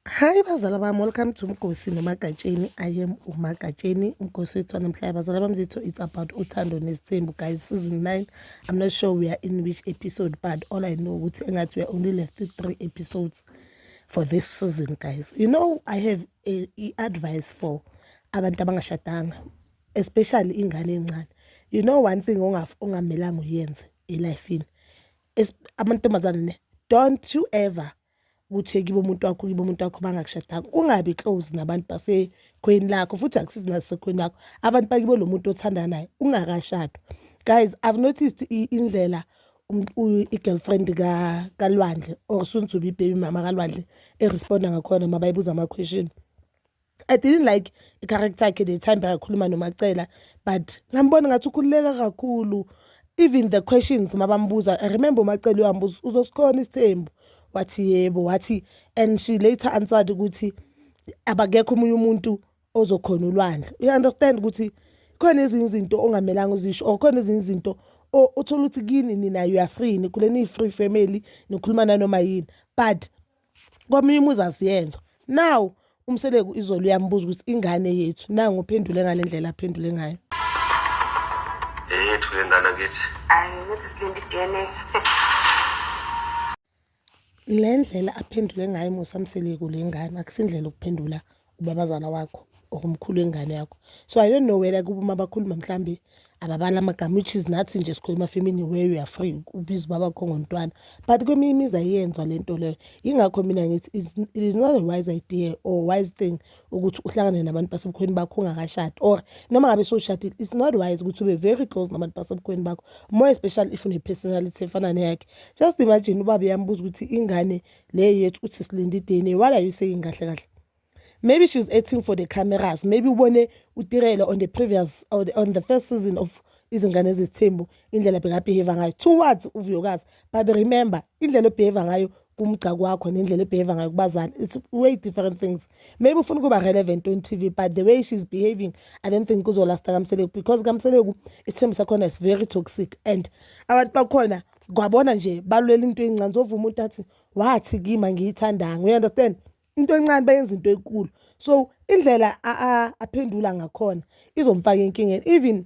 Hi bazala bami, welcome to Mgosi noMagatsheni. I am uMagatsheni, Mgosi wethu namhlanje. Bazala bami zethu, it's about uthando nesithembu guys, season 9. I'm not sure we are in which episode but all I know ukuthi engathi we are only left to three episodes for this season guys. You know I have a, a advice for abantu abangashadanga especially ingane encane. You know one thing ongamelanga uyenze elifini. Amantombazane ne don't you ever ukuthi kibo umuntu wakho kibo umuntu wakho bangakushadanga ungabi close nabantu basekhweni lakho futhi akusizi nasekhweni lakho abantu bakibo lo muntu othanda naye ungakashadwa guys i've noticed indlela i-girlfriend kalwandle or sunzuba ibhebi mama kalwandle eresponda ngakhona mabayibuza ama-question I didn't like i-character yakhe the time bekakhuluma noMacela but ngambona ngathi ukhululeka kakhulu even the questions mabambuza I remember uMacela uyambuza uzosikhona isithembu wathi yebo wathi and she later answered ukuthi abakekho omunye umuntu ozokhona ulwandle you understand ukuthi khona ezinye izinto ongamelanga uzisho or khona ezinye izinto uthola ukuthi kini nina you are free nikhule niyi-free family nikhuluma nanoma yini but komunye umuzi asiyenzwa now umseleku izolo uyambuza ukuthi ingane yethu nangu uphendule ngale ndlela aphendule ngayo eyethu le ngane kithi ayi ngithi silinde i-dna le ndlela aphendule ngayo musa mseleku le ngane akusindlela ukuphendula ubabazala wakho or umkhulu wengane yakho so i don't know whether kuba uma bakhuluma mhlawumbe ababala amagama which is nathi nje sikhuluma femini where you are free ubiza ubaba kho ngontwana but kweminye imizi ayiyenzwa le nto leyo yingakho mina ngithi it is not a wise idea or wise thing ukuthi uhlangane nabantu basebukhweni bakho ungakashadi or noma ngabe sowushadile it's not wise ukuthi ube very close nabantu basebukhweni bakho more especially if une-personality efana neyakhe just imagine ubaba yambuza ukuthi ingane le yethu uthi silinde i-dna what are you saying kahle kahle maybe she's acting for the cameras maybe ubone utirelo on the previous on the, on the first season of izingane ezizithembu indlela bekabehave ngayo towards uvuyokazi but remember indlela obehave ngayo kumgca kwakho nendlela ebehave ngayo kubazali it's way different things maybe ufuna ukuba relevant on tv but the way she's behaving i don't think kuzolasta kamseleku because kamseleku isithembu sakhona is very toxic and abantu bakhona kwabona nje balwela into encane zova umuntu athi wathi kimi angiyithandanga you understand into encane bayenza into enkulu so indlela aphendula ngakhona izomfaka enkingeni even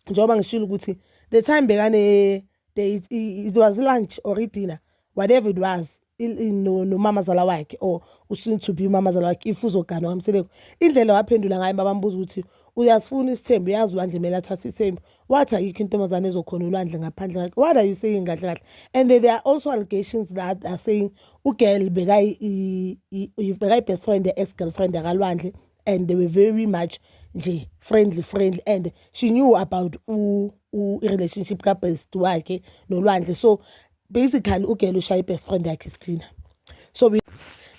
njengoba ngishilo ukuthi the time bekane it was lunch or i-dinner whatever it was nomamazala wakhe or usoon to be umamazala wakhe if uzoganwa kamseleku indlela waphendula ngayo babambuza ukuthi uyasifuna isithembu uyazi ulwandle kumele athathe isithembu wathi ayikho intombazane ezokhona ulwandle ngaphandle ngakhe what are you saying kahle kahle and there are also allegations that are saying ugirl bekayi-best friend ya-ex girlfriend yakalwandle and they were very much nje friendly friendly and she knew about u-relationship kabest wakhe nolwandle so basically ugela ushaya i-best friend yakhe sithina so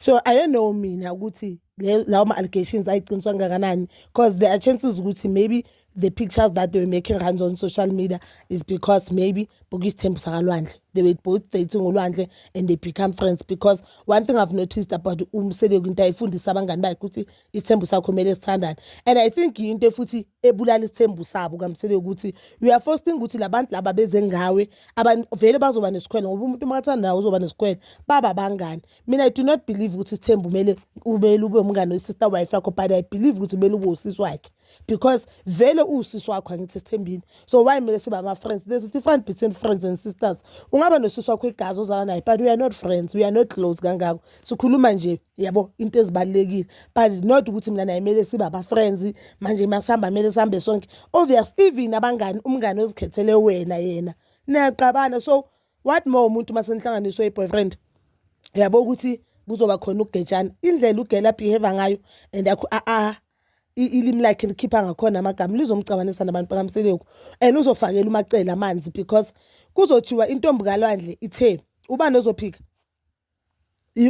so i don't know mina ukuthi lawo ma-allegations ayiqiniswa kangakanani because there are chances ukuthi maybe the pictures that they were making runs on social media is because maybe bokuyisithembiso sakalwandle they were both dating ulwandle and they become friends because one thing i've noticed about umseleku into ayifundisa abangani bakhe ukuthi isithembu sakho kumele sithandane and i think yinto futhi ebulala isithembu sabo kamsele ukuthi you are forcing ukuthi labantu laba beze ngawe vele bazoba nesikhwele ngoba umuntu uma athandayo uzoba nesikhwele baba bangani mina i do not believe ukuthi isithembu kumele ubele ube umngane wesister wife yakho but i believe ukuthi kumele ube usisi wakhe because vele uwusisi wakho angithi esithembini so why kumele siba ama-friends there's a difference between friends and sisters ungaba nosisi wakho igazi ozala naye but we are not friends we are not close kangako sikhuluma nje yabo into ezibalulekile but not ukuthi mina naye kumele sibe aba-friends manje uma sihamba kumele sihambe sonke obvious even abangani umngane ozikhethele wena yena niyaqabana so what more umuntu uma senihlanganiswe i-boyfriend yabo ukuthi kuzoba khona ukugetshana indlela ugela behave ngayo and akho a a ilimi lakhe likhipha ngakhona amagama lizomcabanisa nabantu bakamseleku and uzofakela umacele amanzi because kuzothiwa intombi kalwandle ithe ubani ozophika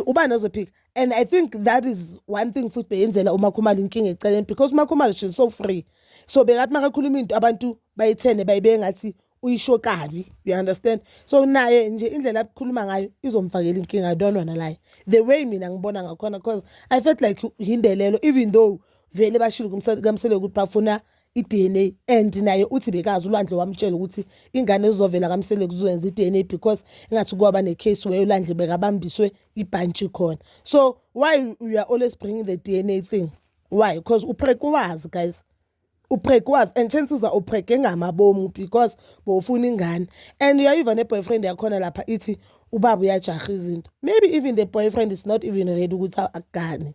uba nozophika and i think that is one thing futhi beyenzela umakhumalo inkinga eceleni because umakhumalo she's so free so bekathi makakhuluma into abantu bayithene bayibeke ngathi uyisho kabi you understand so naye nje indlela abukhuluma ngayo izomfakela inkinga i don't wanna lie the way mina ngibona ngakhona because i felt like hindelelo even though vele bashilo kamsele ukuthi bafuna i-DNA and naye uthi bekazi uLwandle wamtshela ukuthi ingane ezizovela kamsele kuzoyenza i-DNA because engathi kwaba ne-case where uLandle bekabambiswe ibhantshi khona so why you are always bringing the DNA thing why because uprek wazi guys uprek wazi and chances are uprek engamabomu because bowufuna ingane and uyayiva ne-boyfriend yakhona lapha ithi ubaba uyajaha izinto maybe even the boyfriend is not even ready ukuthi agane